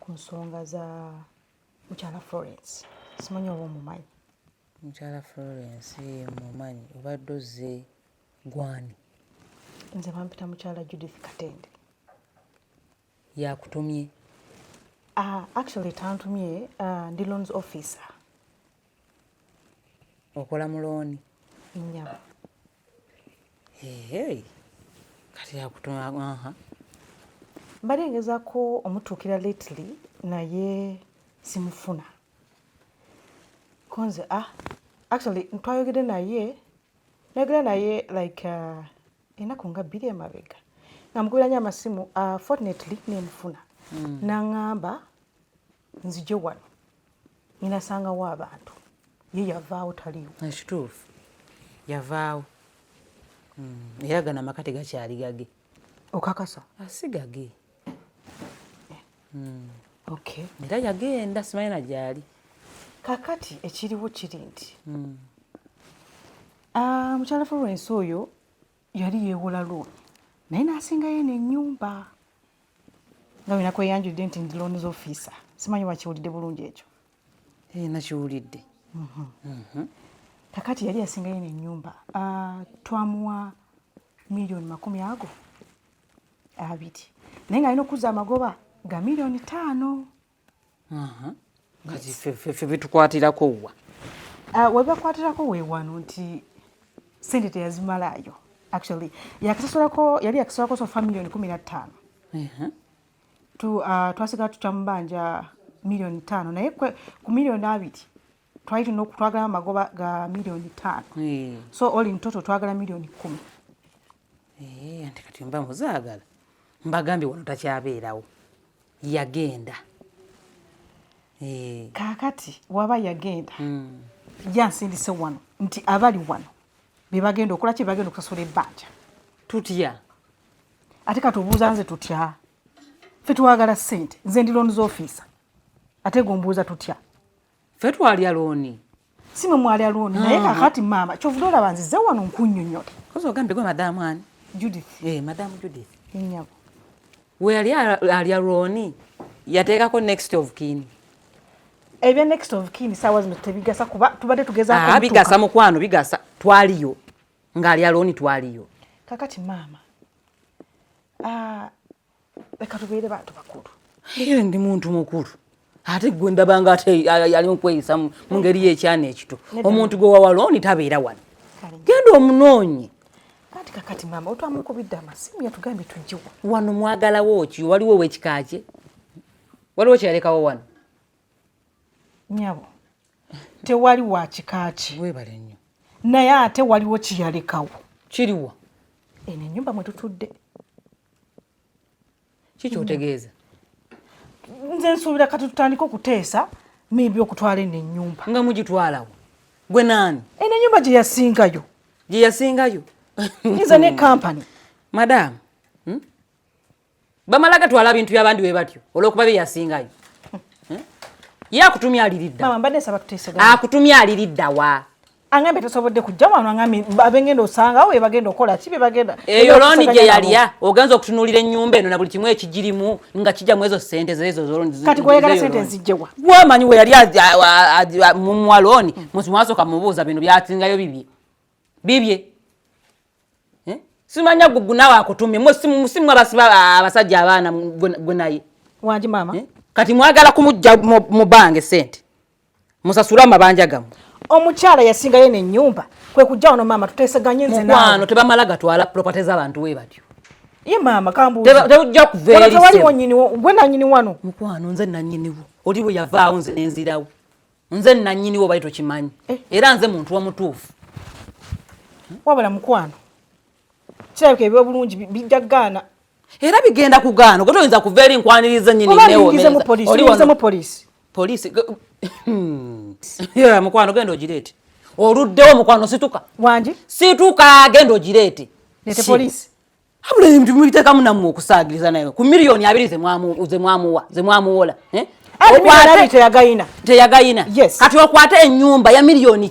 ku nsonga za mukyala Florence simanyi oba omumanyi mukyala Florence eh, mumanyi obadde ozze gwani nze bampita mukyala Judith Katende yakutumye uh, actually tantumye uh, ndi loans officer okola mu looni nyama Hey, kati yakutunga aha mbadde ngezaako omutuukira lately naye simufuna konze ah actually twayogede naye nayogera naye like uh, enaku nga bbiri emabega nga mukubiranyo amasimu uh, fortunately nemufuna mm. nangamba nzije wano ninasangawo abantu ye yavaawo taliwo ekituufu yavaawo hmm, era gano amaka tegakyali gage okakasa asigage ah, eh. hmm. okay era yagenda simanyi na gyali kakati ekiriwo kiri nti hmm. ah, mukyala florence oyo yali yeewola looni naye n'asingayo eno ennyumba nga wena kweyanjudde nti ndi looni z'ofiisa simanyi wakiwulidde bulungi ekyo ee nakiwulidde mhm. mhm. kakati yali yasingayo eno ennyumba ah, twamuwa miliyoni makumi ago abiri naye nga alina okuza amagoba ga miliyoni taano kati fe bitukwatirako wa ah, webakwatirako wewano nti sente teyazimalaayo actually yakisasulako yali yakisasulako sofa miliyoni kumi na ttaano ah, twasigala tutya mu banja miliyoni ttaano naye ku miliyoni abiri twali tulina okutwagala amagoba ga miliyoni ttaano eh. so oli ntoto twagala miliyoni kkumi eh, anti kati mba muzaagala mbagambye wano takyabeerawo yagenda eh. kaakati waba yagenda hmm. yansindise wano nti abali wano bebagenda okola ki bebagenda okusasula ebbanja tutya ate katubuuza nze tutya fe twagala sente nze ndi loans officer ate gombuuza tutya ffe twalya looni si mwe mwalya looni naye ah. kakati maama kyovuda olaba nzize wano nkunyonyola kozi ogambye gwe madamu ani judith eh, madamu judith enyabo weyali alya looni yateekako next of kini ebya next of kin saawa zino tebigasa kuba tubadde tugezaako ah, bigasa mukwano bigasa twaliyo ng'ali alooni twaliyo kakati maama ah, leka tubeere bantu bakulu era ndi muntu mukulu ate gwe ndabanga ate yali mukweyisa mu ngeri yekyana ekito omuntu gwe wawalooni tabeera wano genda omunoonyi kati kakati maama otwamukubidde amasimu yatugambye tujjewa wano mwagalawo ki waliwo owekikakye waliwo kyeyalekawo wano nyabo tewali wakikaki webale nnyo naye ate waliwo kiyalekawo kiriwa eno enyumba mwetutudde kikyotegeeza nze nsuubira kati tutandike okuteesa maybe okutwala eno ennyumba nga mugitwalawo gwe naani eno ennyumba gye yasingayo gye yasingayo iza ne kampani madaamu hmm? bamala gatwala bintu byabandi we batyo olwokuba bye yasingayo hmm? ye akutumya aliridda akutumya aliriddawa angambye tosobodde kujja wano angambye abengenda osangawo bebagenda okola ki bebagenda eyo looni gye yalya ogenza okutunuulira ennyumba eno na buli kimu ekigirimu nga kijja mu ezo sente zezo kati gweyagala sente nzijjewa gwamanyi we yali mumwa looni mwasoka mubuuza bino byasingayo bibye bibye eh? simanya gugu nawe akutumye musimu abasajja abaana gwe naye wangi maama eh? kati mwagala kumujja mu bange sente musasule amabanja gamu omukyala yasingayo nenyumba kwekujja wano maama tuteseganye nzemukwano tebamala gatwala property zabantu we batyo ye maama kambuujja kuveerisgwe nanyini wano mukwano nze nanyiniwo oli bwe yavaawo nze nenzirawo nze nanyiniwo bali tokimanyi eh. era nze muntu omutuufu wabula mukwano kirabika ebyobulungi bijja kugaana era bigenda kugaana ogo toyinza kuva eri nkwaniriza nyinineolingizemupoliisiingize poliisi poliisi hmm. mukwano genda ogireete oluddewo mukwano situka wangi situka genda ogireete nete poliisi abula ebintu mubiteekamu nammwe okusaagiriza naye ku miliyoni abiri zemwamuwa zemwamuwola eh? teyagayina kati okwate enyumba ya miliyoni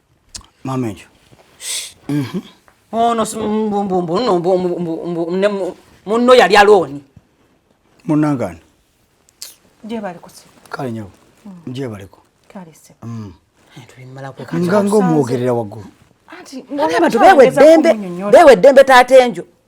Mama ejo. Mhm. Oh no mbu mbu mbu no mbu mbu mbu ne munno yali aloni. Munangani. Je bali kusi. Kale nyo. Mm. Je bali ko. Kale se. Mm. Eh, Tuli mala ko kati. Ngango muogerera wagu. Ati ngaba tubewe dembe. Bewe dembe tatenjo.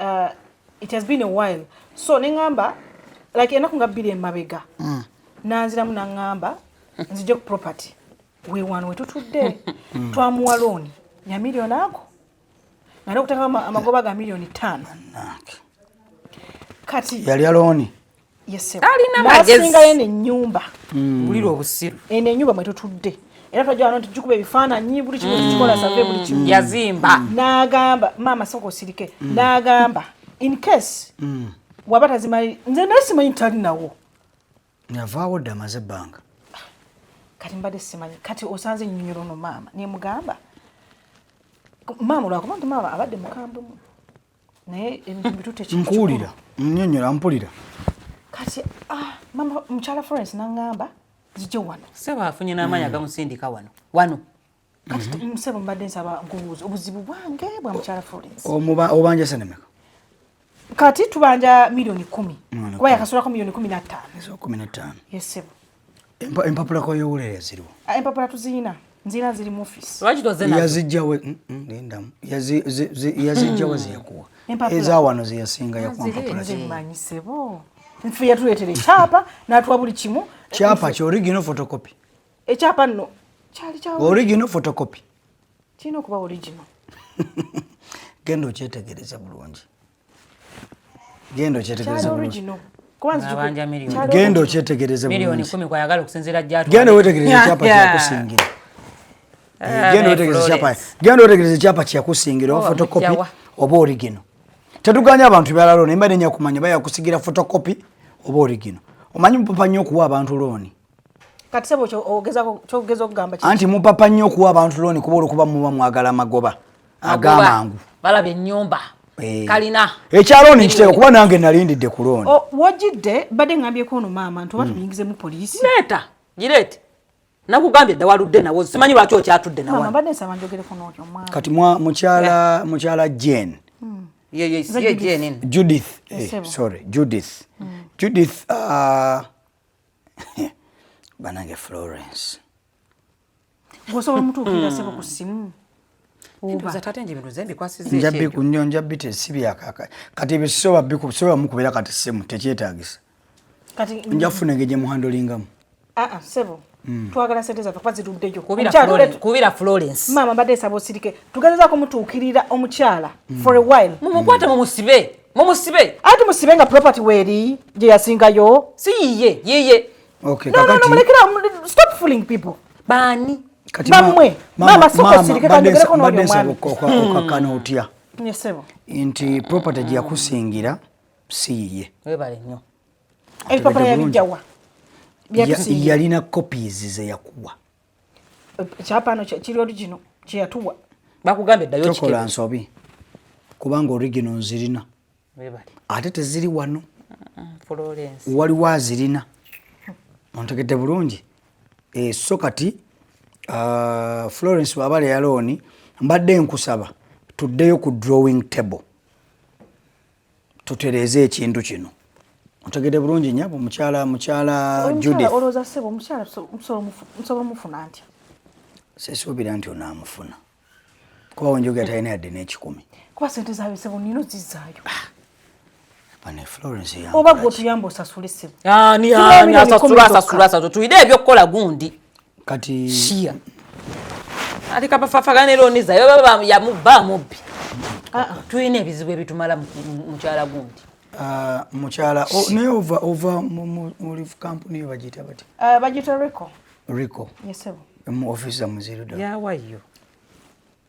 uh, it has been a while so nengamba like enaku nga bbiri emabega mm. nanziramu nangamba nzije ku property wewano wetutudde mm. twamuwa looni ya milioni ako ngana okuteka amagoba ga milioni tano kati yalya looni talina magezinasinga yene enyumba hmm. bulira obusiru eno enyumba mwetutudde era twajawano nti jukuba ebifaananyi buli kimu kikikola hmm. save buli kimu yazimba hmm. n'agamba maama soka osirike n'agamba in case waba tazimali nze naye simanyi talinawo navaawo dda amaze ebbanga kati mbadde simanyi kati osanze ennyonyolo no maama nemugamba maama olwakuba nti maama abadde mukambwemu naye nkuwulira nyonyola mpulira kati ah, mama mukyala florence nangamba zijje wano sebo afunye n'amaanyi agamusindika wano wano kati mhm. sebo mbadde nsaba nkubuuza obuzibu bwange bwa mukyala florence obanja senemeka kati tubanja milioni kumi kuba yakasulako milioni kumi nattaano kumi nattaano yesebo Empapula kwa yowulira yaziriwa? Ah, empapula tuziyina nzira ziri mu office. Lwaki toze nazo? Yazijjawe mm, mm, linda yazijjawe hmm. zeyakuwa eza wano zeyasinga yakuwa mpapula zimanyi sebo nfe yatuleetera ekyapa n'atuwa buli kimu kyapa ki original photocopy ekyapa nno kyali kya original photocopy kirina okuba original genda okyetegereza bulungi genda okyetegereza bulungi genda okyetegereze bulungigenda wetegereze ekyapa kyakusingira eh, genda wetegereze ekyapa kyakusingira oba fotokopi oba origino tetuganya abantu byala looni emba nenya kumanya bayakusigira fotokopi oba origino omanyi mupapa nnyo okuwa abantu looni kati sebo kyogezako kyogeza okugamba kiki anti mupapa nnyo okuwa abantu looni kuba olwokuba muba mwagala amagoba agamangu balaba ennyumba eh. kalina ekyalooni nkiteeka kuba nange nalindidde ku looni oh, wojidde badde ngambyeko ono maama nti oba hmm. tumuyingizemu poliisi leeta gireete nakugambye dda waludde nawo simanyi lwaki okyatudde nawobadde nsaba njogereko nootyo mwana kati mukyala mukyala jen hmm. judith eh, sorry judith hmm. judith uh, banange Florence osobola omutuukirira sebo ku simu njabbi ku nnyo njabbi tesibyakaka kati ebyo sisoba biku sisoba mukubeera kati simu tekyetagisa nja kufuna engeri gye muhandolingamu ah, ah, sebo Mm. twagala sente zaffe kuba zituddeyo kubira florence maama mbadde esaba osirike tugezezako mutuukirira omukyala mm. for a while mumukwate mumusibe mumusibe anti musibe nga property weri gye yasingayo si yiye yiye okay, no, no, no, mulekera stop fooling people baani bamwe maama soko sirike kanyogereko n'oli omwami okakkana hmm. otya nyesebo nti property gye yakusingira si yiye webale nnyo ebipapula yabijjawa yalina copies ze yakuwa ekyapa no kiri origino kyeyatuwa bakugambye ddayo kikola nsobi kubanga origino nzirina ate teziri wano waliwo azirina ontegedde bulungi eh, so kati ah, florence wabale yalooni mbadde nkusaba tuddeyo ku drawing table tutereeze ekintu kino otegede bulungi nyabo mukyala mukyala juditholoza sebo mukyala nsobola omufuna ntya sesuubira nti onaamufuna kuba wenjogera talina yadde n'ekikumi kuba sente zaabyo sebo nina ozizaayo ah. oba gwe otuyamba osasule sebo ah, tuyide ebyokukola gundi kati shia ali kabafafaga ne loni zayo baba ya mubba mubbi ah, ah. tuyina ebizibu ebitumala mukyala gundi ah, mukyala naye ova ova muli kampuni bagiyita bati bagiyita rico rico yesebo mu ofisi zamuziruda yawayo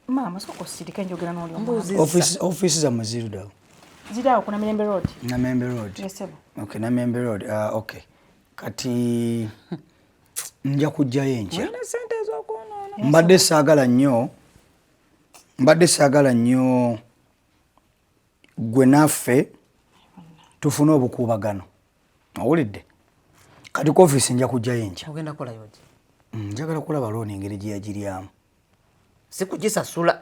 maama soka osirika enjogera noli ofisi zamuziruda ziraawo ku namembe road namembe road yesebo okay namembe road okay kati nja kujjayo enkya mbadde saagala nnyo mbadde saagala nnyo gwe naffe tufune obukuubagano owulidde kati ku ofiisi nja kujjayo enkya mm, njagala kulaba looni engeri gye yagiryamu sikugisasula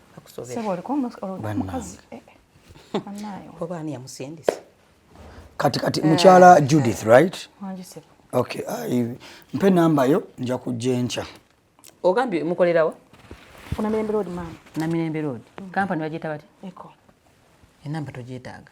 kati kati eh. mukyala Judith right okay mpe namba yo nja kujja enkya ogambye mukolerawa ku Namirembe Road maama. Namirembe Road. Mm. Kampani bagyeta batya? Eko. Enamba togyetaaga.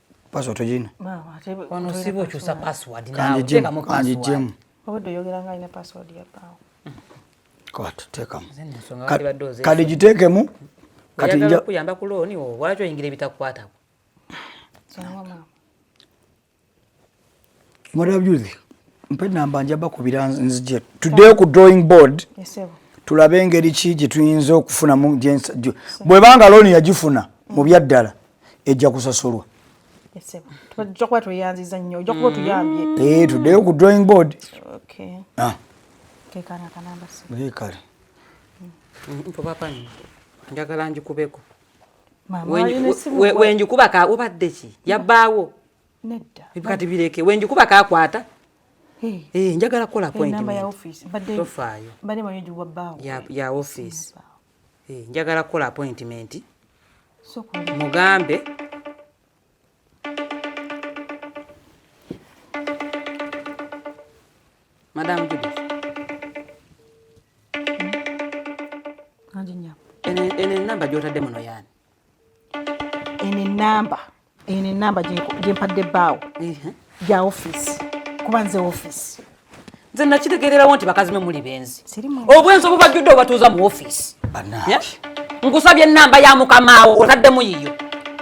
password tojina wano siba okyusa password nawe teekamu password obadde oyogera nga alina password ya baawo kati teekamu kati giteekemu kati nja kuyamba ku looni wo lwaki oyingira ebitakukwatako mwarabyuzi mpe namba njaba kubira nzije tuddeyo ku drawing board tulabe engeri ki gye tuyinza okufunamu bwebanga looni yagifuna mu byaddala ejja kusasulwa eh, tuddeyo ku drawing board ah. kale njagala njikubeko wenjikuba ka obadde ki yabbaawo Nedda. Ebikati bireke. Wenju kuba kakwata. Eh, hey, njagala kola eh, appointment. Namba ya office. Bade. Tofayo. Bade manyo juwa bawo. Ya ya office. Eh, hey, njagala kola appointment. So kwa. Mugambe. Madam Judy. Hmm? Ajinya. Ene ene namba jota demo no yani. eno enamba eno enamba gyempadde baawo gya ofisi kuba nze ofisi nze nakitegeererawo nti bakazi mwe muli benzi obwenzi obubajjudde obatuuza mu ofisi nkusabye enamba ya mukamaawo otaddemu yiyo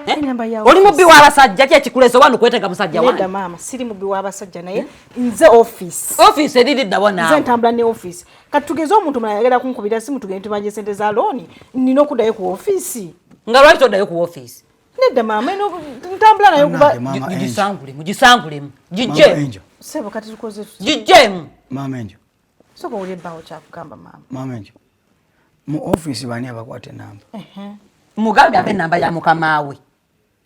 Eh? oli mubbi wabasajja kyekikulesa oba nukwetega musajja wanda maama siri mubbi wabasajja naye nze office office eriridda bona nze ntambula ne office kati tugeze omuntu mulala yagenda kunkubira simu tugende tubanje sente za looni nina okuddayo ku ofiisi nga lwaki toddayo ku ofiisi nedda maama eno ntambula nayo kuba mugisangulemu mugisangulemu gijje sebo kati tukoze gijjemu maama enjo soka owulire bbawo kyakugamba maama maama enjo mu ofiisi bani abakwata enamba mugambe abe enamba ya mukamaawe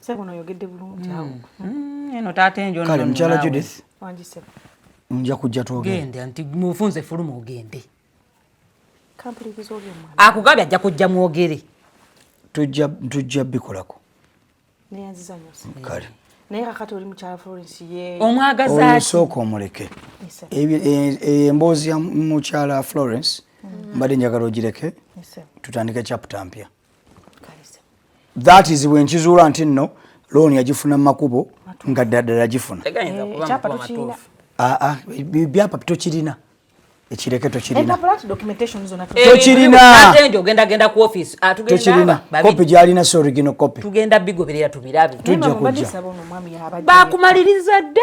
Sebo no yogedde bulungi awo. Mm. Mm, eno taata enjo no. Kale mchala Judith. Wanji sebo. Nja kujja tuoge. Gende anti mufunze fuluma ogende. Kampuli bizoge mwana. Akugabya ajja kujja muogere. Tujja tujja bikolako. Ne yanziza nyose. Kale. Mm. naye kakati oli mukyala florence ye omwagazasooka omuleke emboozi ya mukyala florence mm. mbadde njagala ogireke tutandike chapta mpya that is when kizuula nti nno looni yagifuna mu makubo nga ddala gifuna ah, ah, byapa tokirina ekireke tokirina kopi gyalina si origino kopi tugenda bigoberera tubirabe tujja kujja bakumaliriza dda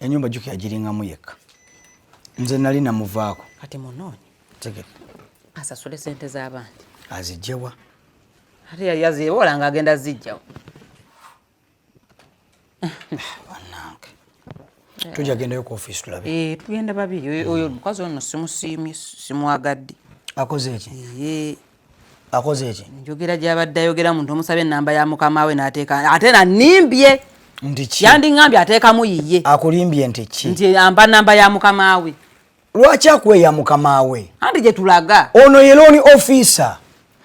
enyumba juki yagiringamu yekka nze nali namuvaako kati munoonyi tegere asasule sente z'abandi azijjewa ate yali azibola nga agenda zijjawo banange tujja gendayo ku ofiisi tulabe eh, tugenda babiri oyo omukazi ono simusiimye simwagadde akoze eki akoze eki njogera gyabadde ayogera muntu omusaba enamba ya mukama we nateeka ate nanimbye ndiki yandiŋambye ateekamu yiye akulimbye nti ki nti amba namba ya mukama we lwaki akweya mukama we anti gyetulaga ono ye looni ofisa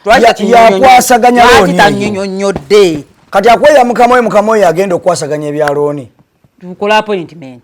yakwasaganya loonitanyonyonyodde kati akweya mukama we mukama oyo agenda okukwasaganya ebya looni tukola appointment